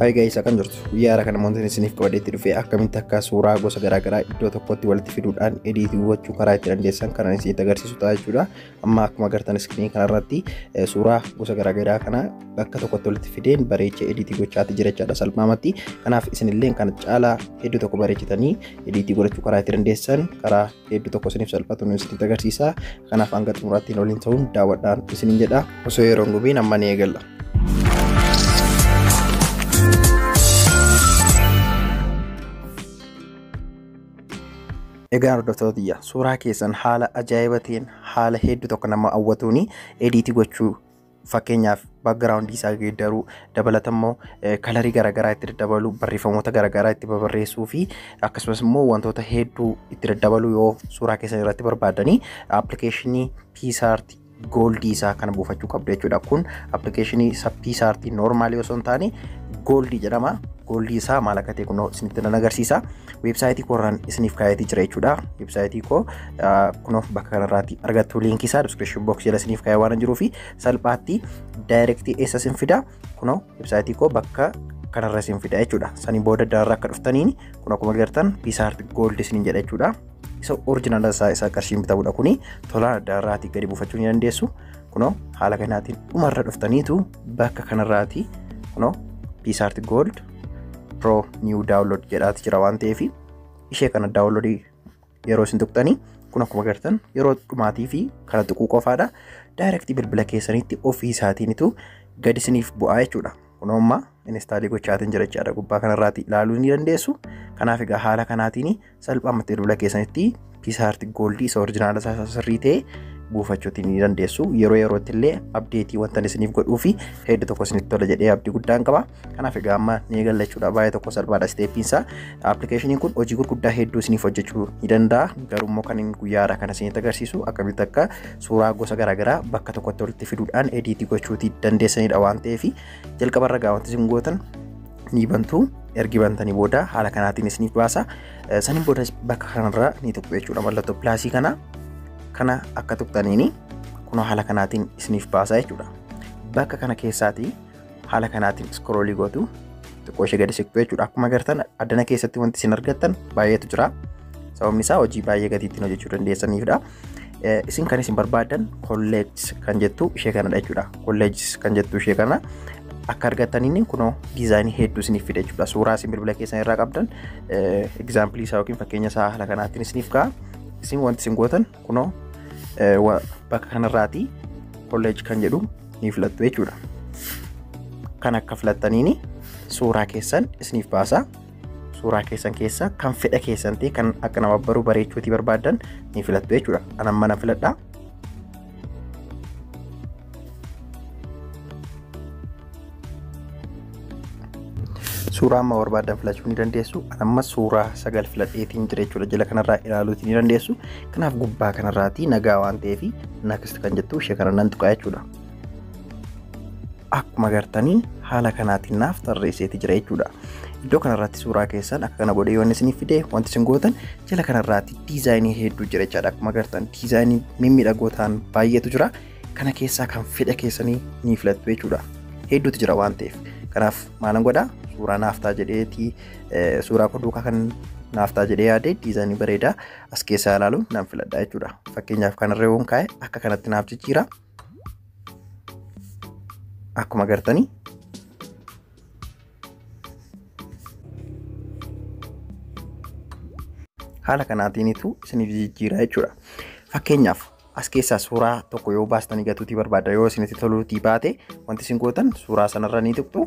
Hayi gaa'is akkam jirtu guyyaa haaraa kana wantoonni isiniif qabadheetti dhufee akkamitti akka suuraa gosa garaagaraa iddoo tokkotti walitti fiduudhaan ediitii gochuu karaa itti dandeessan kanan isinitti agarsiisu ta'a jechuudha. Amma akkuma agartan iskiriinii kanarratti suuraa gosa garaagaraa kana bakka tokkotti walitti fideen bareechee ediitii gochaatti jira jechaadha salphaamatti. Kanaaf isinillee kan caalaa hedduu tokko bareechitanii ediitii godhachuu karaa itti dandeessan karaa hedduu tokko isiniif salphatu nu isinitti agarsiisa kanaaf hanga xumuraatti nu waliin ta'uun daawwadhaa isiniin jedha osoo yeroo hin gubiin amma ni eegalla. Egaa hordoftoota tiyya suuraa keessan haala ajaa'ibaatiin haala hedduu tokko nama hawwatuun ediitii gochuu Fakkeenyaaf background isaa geeddaruu dabalata immoo kalarii garaagaraa itti daddabaluu barreeffamoota garaagaraa itti babarreessuu fi akkasumas immoo wantoota hedduu itti daddabaluu yoo suuraa keessan irratti barbaadanii appilikeeshinii piisaarti gooldii isaa kana buufachuu qabdu jechuudha. Kun appilikeeshinii isa piisaarti noormaalii osoo hin taane gooldii jedhama. Gooldii isaa maal akka ta'e kunoo isinitti nan agarsiisa. weebsaayitii koo irraan isiniif kaa'eetii jira jechuudha. Weebsaayitii koo kunuuf bakka kanarraatti argattu liinkii isaa description box jala isiniif kaa'ee waan jiruu fi salphaatti daayirektii eessa isin fida kunoo weebsaayitii koo bakka kanarra isin fida jechuudha. Sanii booda dararra akka dhuftaniin kun akkuma agartan piisaart gooldi isiniin jedha jechuudha. Isa orjinaala isaa isa qarshiin bitamudha kuni tola dararraatti gadi buufachuu ni dandeessu. Kunoo haala kanaatiin dhumarra dhuftaniitu bakka kanarraati kunoo piisaart gooldi pro new download jedhaati jira waan ta'eef ishee kana download yeroo isin tuqxanii kun akkuma agartan yeroo dhumaatii fi kana tuquu qofaadha direct bilbila keessanitti ofii isaatiinitu gadi isiniif bu'aa jechuudha kun ammaa instaalii gochaatiin jira jechaadha gubbaa kanarraati ilaaluu ni dandeessu kanaaf egaa haala kanaatiin salphaamatti bilbila keessanitti piisaarti gooldii isa orjinaala isaa sirrii ta'e buufachuutti ni dandeessu yeroo yerootti illee abdeetii wanta isiniif godhuu fi hedduu tokko isinitti tola jedhee abdii guddaan qaba kanaaf egaa amma ni eegallachuudha baay'ee tokko salphaadha isteeppiinsa appilikeeshiniin kun hojii gurguddaa hedduu isiniif hojjechuu ni danda'a garuu immoo kan guyyaadha kan isinitti agarsiisu akkamitti akka suuraa gosa garaagaraa bakka tokkotti walitti fiduudhaan ediitii gochuuti dandeessanidha waan ta'eef jalqabarra gaawwanti isin gootan ni bantu ergi bantanii booda haala kanaatiin isiniif baasa saniin booda bakka kanarra ni tuqxu jechuudha mallattoo pilaasii kana kana akka tuqxaniin kunoo haala kanaatiin isiniif baasa jechuudha bakka kana keessaati haala kanaatiin iskroolii gootu xiqqoo ishee gadi siqxu jechuudha akkuma agartan addana keessatti wanti isin argattan baay'eetu jira sababni isaa hojii baay'ee gatiittiin hojjechuu dandeessaniifidha. Isin kan isin barbaadan kolleejis kan jettu ishee kanadha jechuudha. Kolleejis kan jettu ishee kana akka argataniin kunoo diizaayinii hedduu isiniif fida jechuudha. Suuraa isin bilbila keessan irraa qabdan egzaampilii isaa yookiin fakkeenya isaa haala kanaatiin isiniif ka'a. Isin wanti isin gootan kunoo bakka kanarraatii kolleej kan jedhu ni filattu jechuudha. Kan akka filattaniin suuraa keessan isiniif baasa. suuraa keessan keessa kan fedha keessan ta'e kan akka nama baruu bareechuutii barbaadan ni filattu jechuudha. An amma nan filadha. Suuraa amma barbaadan filachuu ni dandeessu. An amma suuraa sagal filadheetiin jira jechuudha. Jala kanarraa ilaaluutii ni dandeessu. Kanaaf gubbaa kanarraatii nagaa waan ta'eef nakist kan jettu ishee kana nan tuqaa jechuudha. akkuma gartanii haala kanaatiin naaf tarreesseeti jira jechuudha. Iddoo kanarratti suuraa keessan akka kana godhee yoon isiniif fide wanti isin gootan jala kanarratti diizaayinii hedduu jira jechaadha. Akkuma gartan diizaayinii mimmiidhagoo ta'an baay'eetu jira. Kana keessaa kan fedha keessanii ni filattu jechuudha. Hedduutu jira waan ta'eef. Kanaaf maalan godhaa suuraa naaf ta'a jedheeti suuraa koo duukaa kan naaf ta'a jedhee yaade diizaayinii bareedaa as keessaa ilaaluun nan filadha jechuudha. Fakkeenyaaf kanarra yoon kaa'e akka kanatti naaf jijjiira. akkuma gartanii haala kanaatiinitu isiniif jijjiiraa jechuudha. Fakkeenyaaf as keessaa suuraa tokko yoo baastanii gatuutii barbaadda yoo isinitti toluutii baate wanti isin gootan suuraa sanarra ni tuqxu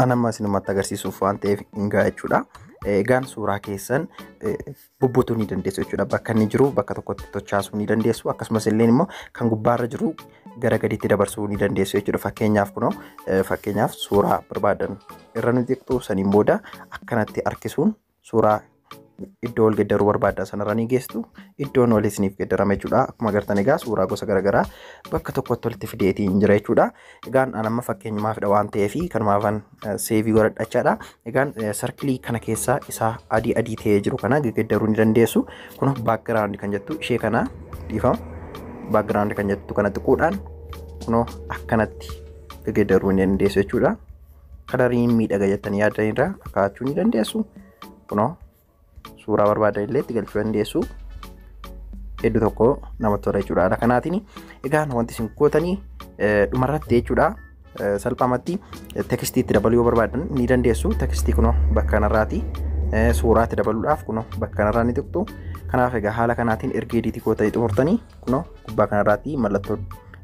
An amma isinumatti agarsiisuuf waan ta'eef hin ga'a jechuudha. Egaan suuraa keessan bubbutuu ni dandeessu jechuudha. Bakka inni jiru bakka tokkotti tochaasuu ni dandeessu. Akkasumas illee immoo kan gubbaarra jiru gara gadiitti dabarsuu ni dandeessu jechuudha. Fakkeenyaaf kunoo fakkeenyaaf suuraa barbaadan irra ni xiqxu saniin booda akkanatti harkisuun suuraa iddoo wal geddaruu barbaadda sanarra ni geessu iddoon wal isiniif geddarame jechuudha akkuma agartan egaa suuraa gosa garaagaraa bakka tokkotti walitti fideetii hin jira jechuudha egaan an amma fakkeenyumaafidha waan ta'eef kanumaafan seevii godhadhachaadha egaan sarkilii kana keessaa isaa adii adii ta'ee jiru kana geddaruu ni dandeessu kun baakgiraawundi kan jettu ishee kana dhiifama baakgiraawundi kan jettu kana xiquudhaan kunoo akkanatti geddaruu ni dandeessu jechuudha. kalarii miidhaga jettanii yaaddan irraa kaa'achuu ni dandeessu. Kunoo suuraa barbaadan illee itti galchuu dandeessu. Hedduu tokko namatti tola jechuudha haala kanaatiin. Egaa wanti isin gootanii dhumarratti jechuudha salphaamatti tekstii itti dabaluu yoo barbaadan ni dandeessu. Tekstii kunoo bakka kanarraati suuraa itti dabaluudhaaf kunoo bakka kanarraa ni tuqxu. Kanaaf egaa haala kanaatiin erga ediitii gootanii xumurtanii kunoo gubbaa kanarraatti mallattoo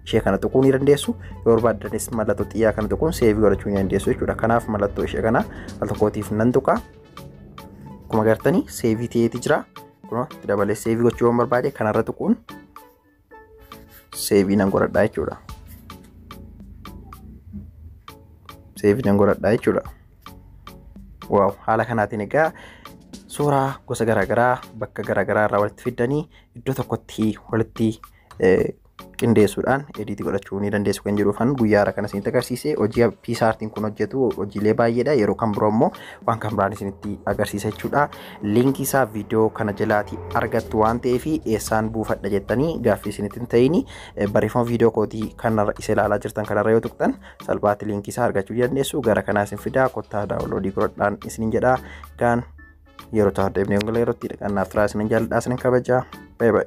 ishee kana tuquu ni dandeessu yoo barbaaddanis mallattoo xiyyaa kana tuquun seevii godhachuu ni dandeessu jechuudha kanaaf mallattoo ishee kana al tokkootiif nan tuqa akkuma gartanii seevii ta'eeti jira kunoo itti dabalee seevii gochuu waan barbaade kanarra tuquun seevii nan godhadhaa jechuudha seevii nan godhadhaa jechuudha waaw haala kanaatiin egaa suuraa gosa garaagaraa bakka garaagaraa irraa walitti fiddanii iddoo tokkotti walitti qindeessuudhaan ediitii godhachuu ni dandeessu kan jiru kan guyyaa irra kana isinitti agarsiise hojii piisaartiin kun hojjetu hojiilee baay'eedha yeroo kan biroo immoo waan kan biraan isinitti agarsiisa jechuudha liinkii isaa viidiyoo kana jalaati argattu waan ta'eef eessaan buufadha jettanii gaaffii isinitti hin ta'ini barreeffama viidiyoo kootii kanarra isa ilaalaa jirtan kanarra yoo tuqxan salphaatti liinkii isaa argachuu dandeessu gara kanaa isin fidaa kottaa daawunloodii godhadhaan isinin jedha gaan Yeroo taa'u deebinee ongala yerootti dhaqannaa firaa isinin jaalladhaa isinin kabajaa. Bye bye.